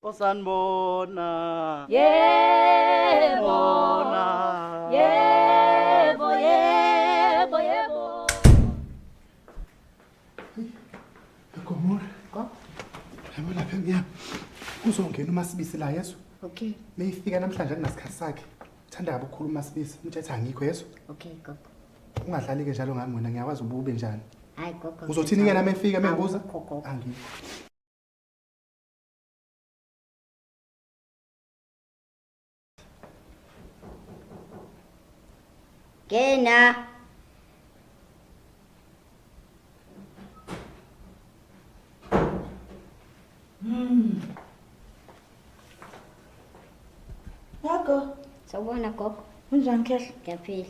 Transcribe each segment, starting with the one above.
osanibona yebo bona yebo yebo yebo Gomora. Go. Yabo lapha emnyama. Kuzongena uMasibisi la yeso. Okay. Meyifika namhlanje akunasikhathi sakhe. Uthanda kabi ukukhuluma uMasibisi. Umthethe angikho yeso. Okay, gogo. Ungadlali ke njalo ngami wena ngiyakwazi ubube njani. Hayi gogo. Uzothini ke nami efika mengibuza? Angikho. Gena. Mm. Gogo. Sawubona gogo. Unjani khehla? Ngiyaphila.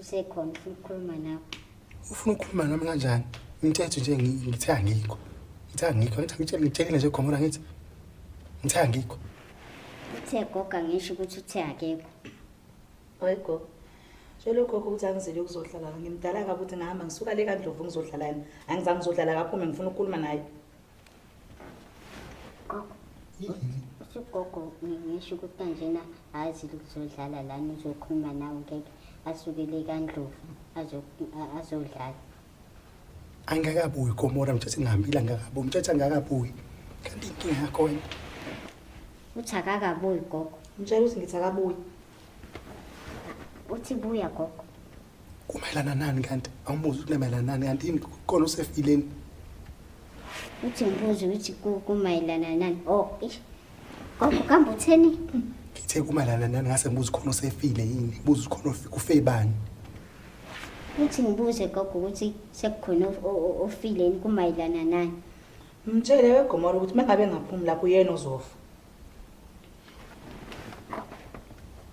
usekhona ufuna ukukhuluma nawe ufuna ukukhuluma nami kanjani umthetho nje ngithe angikho ngithe angikho ngithi ngitshelile nje gomora ngithi ngithe angikho uthe goga ngisho ukuthi uthe akekho hayi gogo Tshela ugogo ukuthi angizile ukuzodlala ngimdala kabi ukuthi ngihamba ngisuka le kaNdlovu ngizodlalana. Angizange ngizodlala kaphume ngifuna ukukhuluma naye. ugogo ngisho ukuthi kanjena azi ukuzodlala lana uzokhuluma nawe ngeke asukele kandlovu azodlala angakabuyi komora mthethe ngihambile angakabuyi mthethe angakabuyi kanti inkinga yakhona uthi akakabuyi gogo mtshela ukuthi ngithi akabuyi uthi buya gogo kumayelana nani kanti awumbuzi ukuthi kumayelana nani kanti yini kona usefileni uthi ngibuze ukuthi ku- kumayelana nani o ish gogo kambe utheni ngithe kumayelana nani ngase ngibuza khona usefile yini buza khona ufi- kufe bani uthi ngibuze gogo ukuthi sekukhona of- o- o- ofileni kumayelana nani mtshele wegomora ukuthi uma ngabe ngaphumi lapho uyena ozofa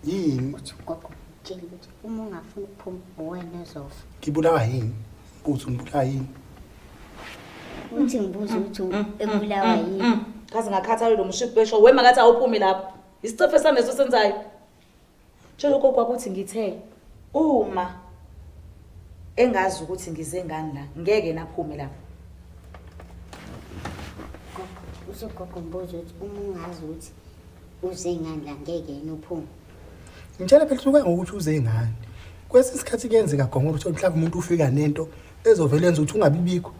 yini ukuthi ugogo utshela ukuthi uma ungafuni ukuphuma uwena ezofa ngibulawa yini buthi ngibulawa yini uthi ngibuza ukuthi mm, mm, ebulawa mm, yini kaze ngakhathalelwa umshiphi wesho wema kathi awuphume lapho isicefe sami leso senzayo Tshela ugogo ukuthi ngithe uma engazi ukuthi ngize ngani la ngeke naphume lapho. Usogogo mbuzo ukuthi uma ungazi ukuthi uze ngani la ngeke yena uphume. Ngitshela phela usuke ngokuthi uze ngani. Kwesinye isikhathi kuyenzeka gonga ukuthi mhlawumbe umuntu ufika nento ezovele yenza ukuthi ungabibikho.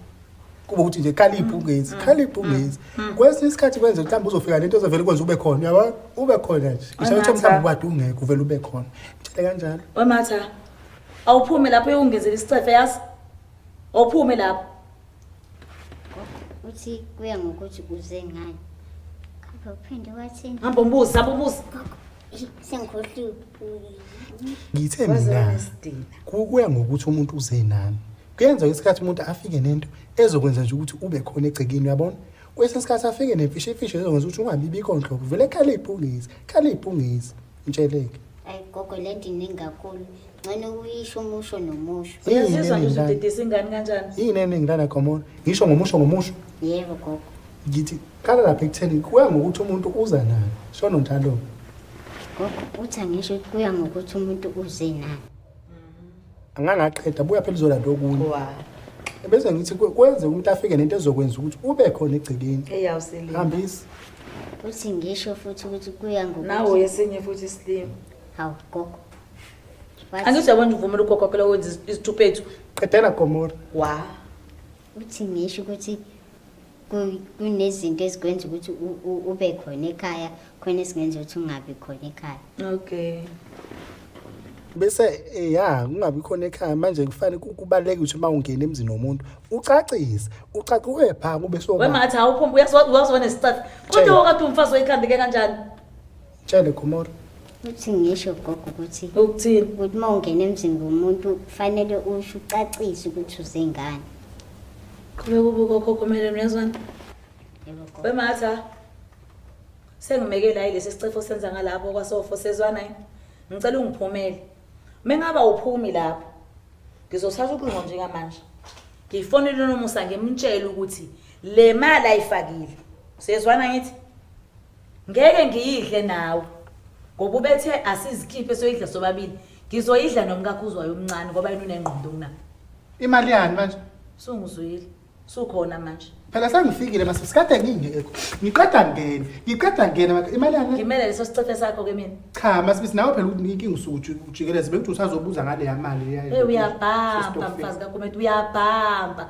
kuba ukuthi nje khaliphi ungenzi khaliphi ungenzi kwesinye isikhathi kwenza mhlawumbe uzofika lento ezovele kwenza ube khona yabo ube khona nje ngisho ukuthi mhlawumbe ubade ungekho uvele ube khona ngitshele kanjalo wematha awuphume lapho uyongenzela isicefe yazi awuphume lapho uthi kuya ngokuthi kuze ngani kambe uphinde wathini hamba umbuzi hamba umbuzi sengikhohliwe ngithe mina kuya ngokuthi umuntu uze nani kuyenzeka isikhathi umuntu afike nento ezokwenza nje ukuthi ube khona egcekeni uyabona kwesinye isikhathi afike nemfisha imfisha ezokwenza ukuthi ungabibikho nhlobo vele khala ibhungezi khala ibhungezi mtsheleke ayi gogo le nto iningi kakhulu ngcane ukuyisho umusho nomusho uyazizwa nje ukuthi udedisa ingane kanjani yini eningi lana khomona ngisho ngomusho ngomusho yebo gogo ngithi khala lapha ekutheni kuya ngokuthi umuntu uza nani shono njalo gogo uthi angisho kuya ngokuthi umuntu uze nani angangaqeda buya phela izolanda okunye bese ngithi kwenze umuntu afike nento ezokwenza ukuthi ube khona egcekeni hambisa uthi ngisho futhi ukuthi kuya ngokuthi nawo yesinye futhi isilima hawu gogo angithi yabona uvumela ugogo phela wenza izithuphethu qedela gomora wa uthi ngisho ukuthi kunezinto ezikwenza ukuthi ube khona ekhaya khona esingenza ukuthi ungabi khona ekhaya okay bese eh, ya kungabi khona ekhaya manje kufanele kubaleke ukuthi uma ungena emzini womuntu ucacise ucace uye pha kube so wemathi awuphumba uyazona isicathi kodwa wakade umfazi oyikhande ke kanjani Tshele Gomora. Uthi ngisho gogo ukuthi ukuthini? Ukuthi uma ungena emzini womuntu kufanele usho ucacise ukuthi uzengane. Qhubeka ubuka okhokho kumele uyazwana. Yebo gogo. Wematha. Sengimekela yilesi sicefo senza ngalapho kwasofo sezwana yini? Ngicela ungiphumele. Mengaba uphumi lapho. Ngizosatha uqingo njengamanje. Ngifonele nomusa ngimtshela ukuthi le mali ayifakile. Sezwana ngithi Ngeke ngiyidle nawe ngoba ubethe asizikhiphe soyidla sobabili. Ngizoyidla nomkakhuzwayo omncane ngoba yena unengqondo kunayo. Imali yani manje? Sungizwile. Sukhona manje. Phela sengifikile mase sikade ngingekho. Ngiqeda ngene. Ngiqeda ngene maka imali yani. Ngimele leso sicefe sakho ke mina. Cha masibisi nawe phela inkinga usuku ujikeleze bekuthi usazobuza ngale yamali yayo. Hey uyabhamba mfazi kaGumede uyabhamba.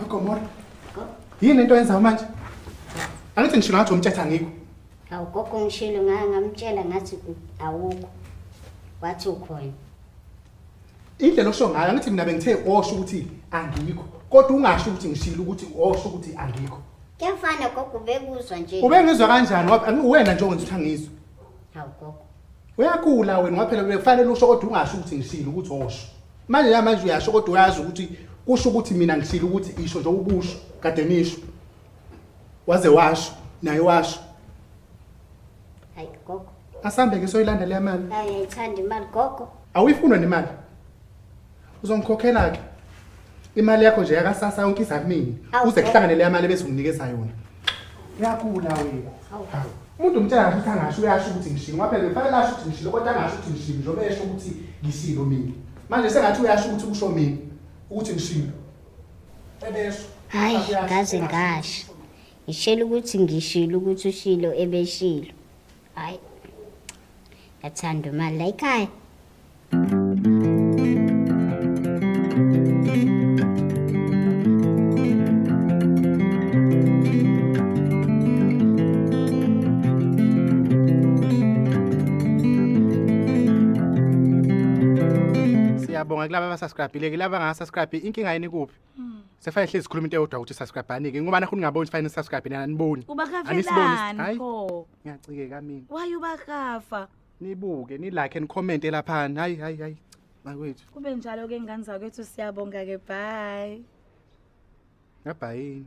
Agomora. Yini into yenza manje? Angithi ngisho ngathi umthetha ngikho. Awu gogo ngishilo ngake ngamtshela ngathi awukho. Wathi ukhona. Indlela osho ngayo angithi mina bengithe osho ukuthi angikho. Kodwa ungasho ukuthi ngishilo ukuthi osho ukuthi angikho. Kuyafana gogo ubekuzwa nje. Ubengizwa kanjani? Uwena nje ongenza ukuthi angizwe. Hawu gogo. Uyagula wena ngoba phela bekufanele usho kodwa ungasho ukuthi ngisile ukuthi osho. Manje ya manje uyasho kodwa uyazi ukuthi kusho ukuthi mina ngisile ukuthi isho nje ubusho kade nisho. Waze washo naye washo. Hayi gogo. Asambe ke soyilandela imali. Hayi ayithanda imali gogo. Awuyifuna nemali. uzongikhokhela ke imali yakho nje yakasasa yonke iza kumini Awu, uze kuhlangane leya mali bese unginikeza yona uyagula wena Hawu. umuntu umtshela kahle ukuthi angasho uyasho ukuthi ngishilo ngoba phela kufanele asho ukuthi ngishilo kodwa angasho ukuthi ngishilo njengoba esho ukuthi ngishilo mina manje sengathi uyasho ukuthi kusho mina ukuthi ngishilo ebesho Hayi, Uyasho, ngaze engasho. ngasho. Ngishela ukuthi ngishilo ukuthi ushilo ebeshilo. Hayi. Yathanda imali la ekhaya. siyabonga kulaba abasubscribile ke laba ngasubscribe inkinga yini kuphi hmm. sefanele hlezi sikhuluma into eyodwa ukuthi subscribe ani ke ngoba nakho ningaboni fanele subscribe nani aniboni uba kafelani pho ngiyacikeka mina why uba kafa nibuke nilike and comment laphana hayi hayi hayi bakwethu kube njalo ke ngane zakwethu siyabonga ke bye ngabhayini